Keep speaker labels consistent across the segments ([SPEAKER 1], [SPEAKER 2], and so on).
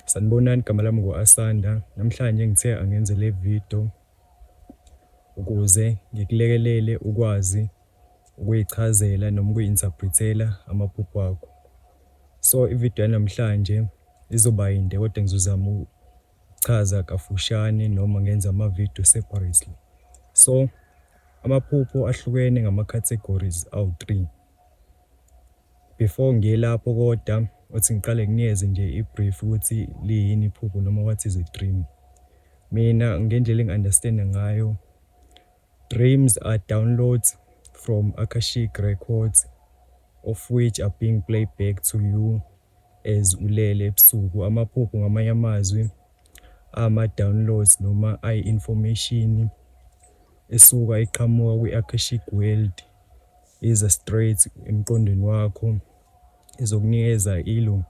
[SPEAKER 1] Sanibonani igama lami ngu Asanda namhlanje ngithe angenze le video ukuze ngikulekelele ukwazi ukuyichazela noma ukuyi-interpret-ela amaphupho akho. So ivideo yanamhlanje izoba yinde kodwa ngizozama ukuchaza kafushane noma ngenza amavideo separately. So amaphupho ahlukene ngama-categories awu-three. Before ngiye lapho koda uthi ngiqale nginikeze nje i-brief ukuthi liyini iphupho noma what is a dream. Mina ngendlela engi-understand-a ngayo, dreams are downloads from Akashic Records of which are being playback to you. as ulele ebusuku amaphupho ngamanye amazwi ama downloads noma ayi information esuka iqhamuka kwi akashic world iza straight emqondweni wakho izokunikeza ilo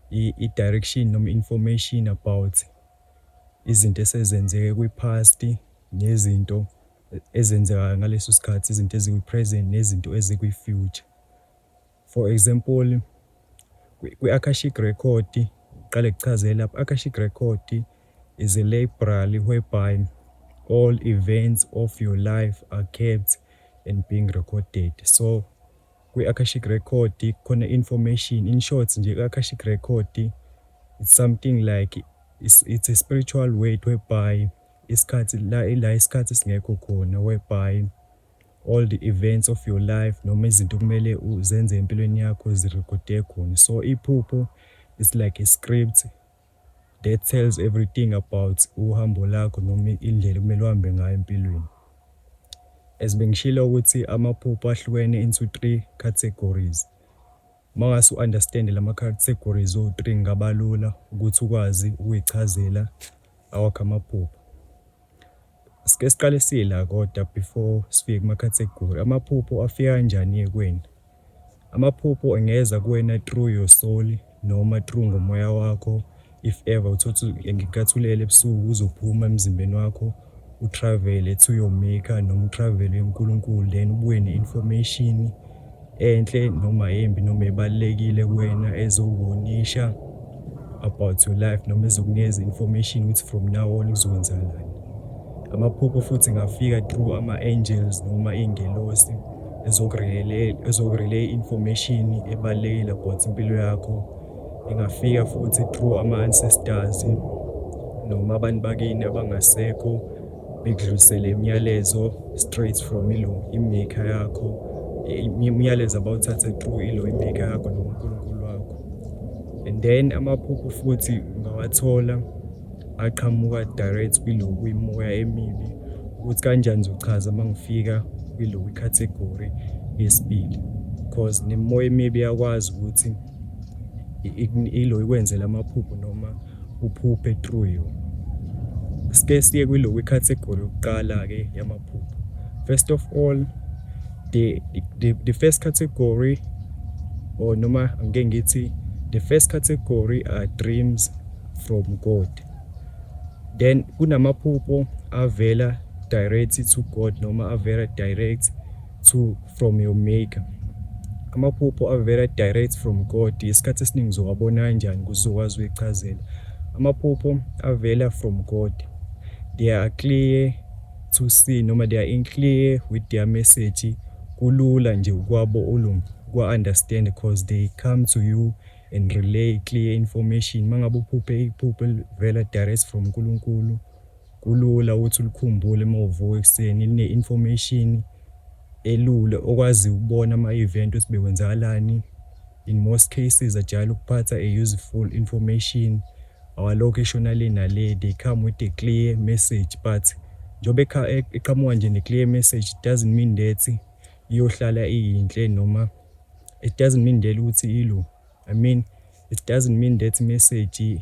[SPEAKER 1] i direction noma information about izinto esezenzeke kwi past nezinto ezenzekayo ngaleso sikhathi izinto ezikwi present nezinto ezikwi future. For example, kwi Akashic Record, ngiqale ngikuchazele lapha, Akashic Record is a library whereby all events of your life are kept and being recorded. So kwi Akashic Record khona information, in short nje kwi Akashic Record it's something like it's, it's a spiritual word whereby isikhathi la ila isikhathi singekho khona whereby All the events of your life noma izinto okumele uzenze empilweni yakho zirekhode khona. So iphupho it's like a script that tells everything about uhambo lakho noma indlela okumele uhambe ngayo empilweni. As bengishilo ukuthi amaphupho ahlukene into three categories. Uma ngase u-understand lama categories o-three ngabalula ukuthi ukwazi ukuyichazela awakho amaphupho. Sike siqale sila kodwa before sifike kumakhathegori. Amaphupho afika kanjani-ke kuwena? Amaphupho engeza kuwena through your soul noma through ngomoya wakho. If ever uthothi ngenkathi ulele ebusuku uzophuma emzimbeni wakho utravele to your maker noma utravele uNkulunkulu then ubuye ne-information. enhle noma embi noma ebalulekile kuwena ezokubonisha about your life noma ezokunikeza information ukuthi from now on kuzokwenzakalani amaphupho futhi ngafika through ama-angels noma iy'ngelosi ezokurelay information ebalulekile about impilo yakho ingafika futhi through ama-ancestors noma abantu bakini abangasekho Bekudlulisele imiyalezo straight from ilo imaker yakho imiyalezo abawuthathe through ilo imaker yakho nonkulunkulu wakho and then amaphupho futhi ungawathola aqhamuka direct kwilo kwimoya emibi ukuthi kanjani zochaza uma ngifika kwilo kwicategory yesibili because nemoya emibi yakwazi ukuthi ilo ikwenzela amaphupho noma uphuphe through yona. Sike siye kwiloku icategory yokuqala-ke yamaphupho. First of all, the, the, the first category or noma ngike ngithi the first category are dreams from God. Then kunamaphupho avela direct to God noma avela direct to from your maker. Amaphupho avela direct from God isikhathi esiningi uzowabona kanjani kuze uzokwazi uyichazela. Amaphupho avela from God. They are clear to see noma they are in clear with their message kulula nje ukwabo ulum kwa understand because they come to you and relay clear information mangabe uphuphe iphupho elivela direct from uNkulunkulu Kulula ukuthi ulikhumbule uma uvuka ekuseni, line information elula okwazi ukubona ama event ukuthi bekwenzakalani. In most cases ajayele ukuphatha a useful information awalokhu eshona le nale, they come with a clear message but njengoba eqhamuka nje ne clear message it doesn't mean that iyohlala iyinhle noma it doesn't mean that ukuthi ilo I mean it doesn't mean that message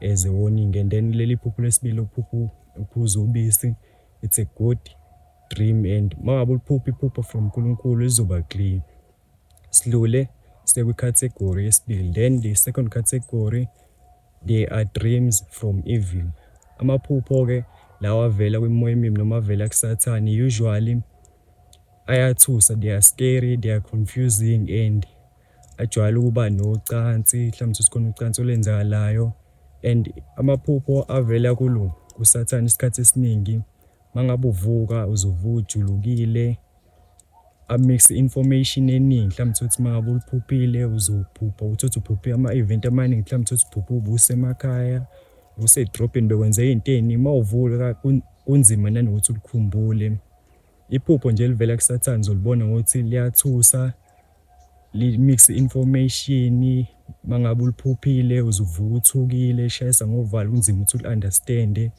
[SPEAKER 1] as a warning and then leli phupho lesibili uphupho uphuza ubisi it's a good dream and mangabe uliphupha iphupho from uNkulunkulu lizoba clear silule sekwi category yesibili then the second category they are dreams from evil amaphupho ke lawa avela kwimoya emibi noma avela kusathane usually ayathusa they are scary they are confusing and ajwayele ukuba nocansi mhlawumbe sikhona ucansi olenzakalayo and amaphupho avela kulo kusathane isikhathi esiningi mangabe uvuka uzovuka ujulukile amix information eningi mhlawumbe uthi mangabe uliphuphile uzophupha uthi uphuphe ama event amaningi mhlawumbe uthi uphuphe ubusemakhaya usedrobheni bekwenzeka into eningi mawuvuka kunzima nanokuthi ulikhumbule. Iphupho nje elivela kusathane uzolibona ngokuthi liyathusa li-mix information mangabe uliphuphile uzuvuka uthukile shayisa ngovala kunzima ukuthi uli-understande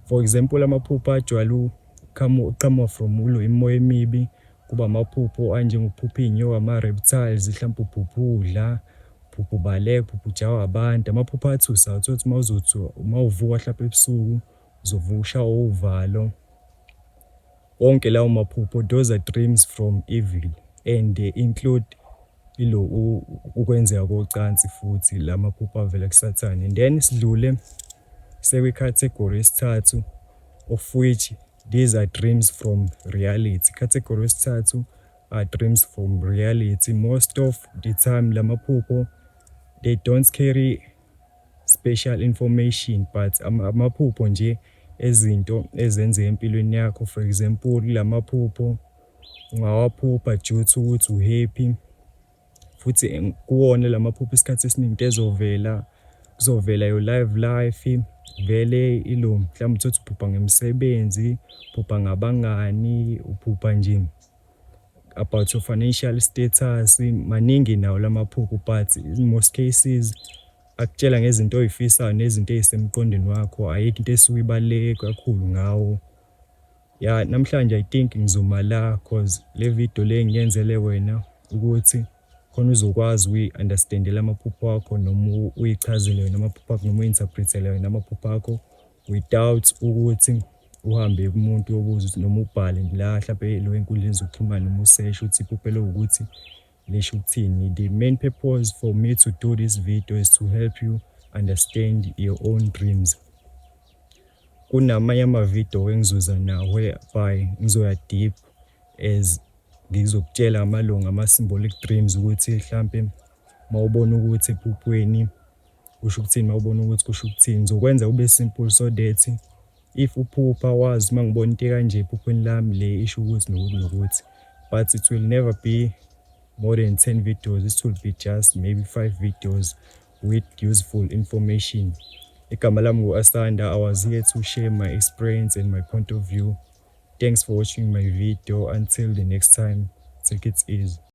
[SPEAKER 1] for example amaphupho ajwayele uqhamuka from ulo imimoya emibi kuba amaphupho anjengokuphupha iy'nyoka ama-reptiles mhlawumpe uphupha udla uphupha ubaleka uphupha ujawa abantu amaphupho athusa uthole ukuthi uma uzothi uma uvuka mhlawumpe ebusuku Zovusha uvalo wonke lawo maphupho those are dreams from evil and they include ilo ukwenzeka kocansi futhi lamaphupho avela kusathane and then sidlule sekwi category yesithathu of which these are dreams from reality category yesithathu are dreams from reality most of the time lamaphupho they don't carry special information but amaphupho nje ezinto ezenzeka empilweni yakho for example lamaphupho ungawaphupha due to ukuthi u happy futhi kuwona lamaphupho isikhathi esiningi ezovela kuzovela your live life vele ilo mhlawumbe uthi uphupha ngemisebenzi uphupha ngabangani uphupha nje about your financial status maningi nawo lamaphupho but in most cases akutshela ngezinto oyifisayo nezinto ezisemqondweni wakho ayikho into esuyibaluleke kakhulu ngawo ya namhlanje i think ngizoma la cause le video le ngiyenzele wena ukuthi khona uzokwazi uyi-understandela amaphupho akho noma uyichazele wena amaphupho akho noma uyi-interpretele wena amaphupho akho Without ukuthi uhambe kumuntu uyobuza ukuthi noma ubhale la hlampe lo enkundleni zokuxhumana noma useshe ukuthi iphupho ukuthi lisho ukuthini. The main purpose for me to do this video is to help you understand your own dreams. Kunamanye ama-video engizoza nawo whereby ngizoya deep as ngizokutshela amalungu ama-symbolic dreams ukuthi hlampe mawubona ukuthi ephuphweni Kusho ukuthini mawubona ukuthi kusho ukuthini ngizokwenza kube simple so that if uphupha wazi uma ngibona into kanje ephuphweni lami le isho ukuthi nokuthi nokuthi but it will never be more than 10 videos it will be just maybe 5 videos with useful information igama lami ngu-asanda i was here to share my experience and my point of view thanks for watching my video until the next time take it easy